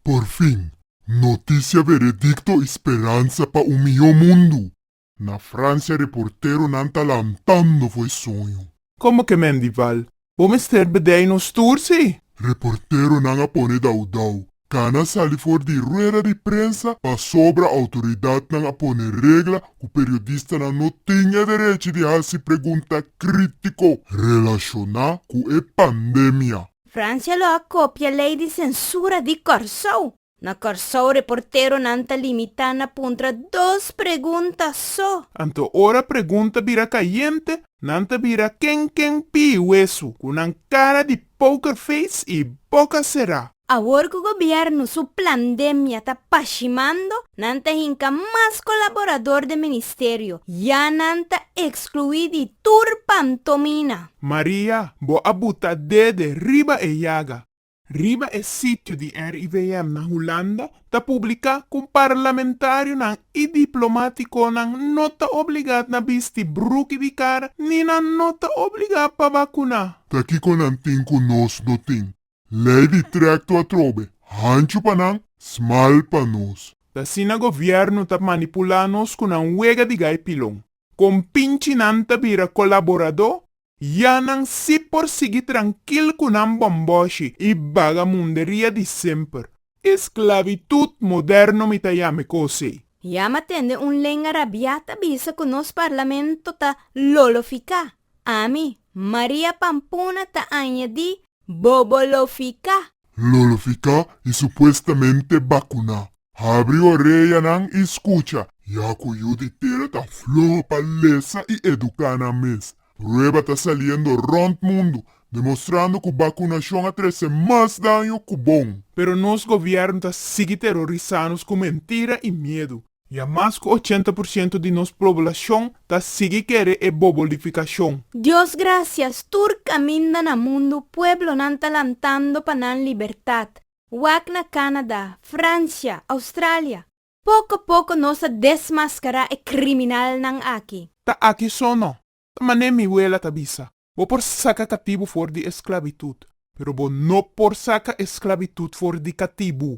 Por fin, notisia veredicto y speransa pa un miho mundu! Na Francia reporteronan ta lantando for e soño. Como que Mendival? Bo mester bedei nos tur si? Reporteronan a pone dau dau. Cana sali for di rueda di prensa pasobra autoridadnan a pone regla cu periodistanan no tin e derechi di haci pregunta critico relaciona cu e pandemia. Francia lo a kopia lei di sensura di Kòrsou. Na Kòrsou reporteronan ta limitá na puntra dos pregunta so. Anto ora pregunta bira kayente, nan ta bira ken ken pi huesu ku nan kara di poker face i boka será. Awor ku gobièrnu su plandemia ta pashimando, nan ta hinka mas kolaborador den ministerio, ya nan ta ekskluí di tur pantomina. Maria, bo a buta dede riba e yaga. Riba e sitio di RIVM na Hulanda ta publiká ku parlamentarionan i diplomátikonan no ta obligat na bisti bruki di kara ni nan no ta obligá pa bakuná. Ta kiko nan tin ku nos no tin? Lei di trekto atrobe, hanchu pa nan, smal pa nos. T'asina govièrnu ta manipulá nos ku nan wega di gai pilon. Kon pinchinan ta bira kolaboradó, ya nan si por sigui trankil ku nan bòmbòshi i bagamunderia di semper. Esclavitud moderno mi ta yame cose. Ya ma tende un lenga rabia ta bisa cu nos parlamento ta lolofica. Ami, Maria Pampuna ta añadi bobolofica. Lolofica y supuestamente bacuna. Habri oreyanan y scucha. Ya cu yu di tera ta floho pa lesa y educa nan mes. Prueba ta saliendo rond mundo, demostrando cu bacunacion a trece mas daño cu bon. Pero nos gobierno ta sigui terorisa nos cu mentira y miedo. Ya mas cu ochenta por ciento di nos poblacion ta sigui kere e bobolificacion. Dios gracias, tur caminda na mundo pueblonan ta lantando pa nan libertad, wak na Canada, Francia, Australia. Poko poko nos a desmascará e criminalnan aki. Ta aki so no. Ta manera mi wela ta bisa, Bo por saca catibu for di esclavitud, pero bo no por saca esclavitud for di catibu.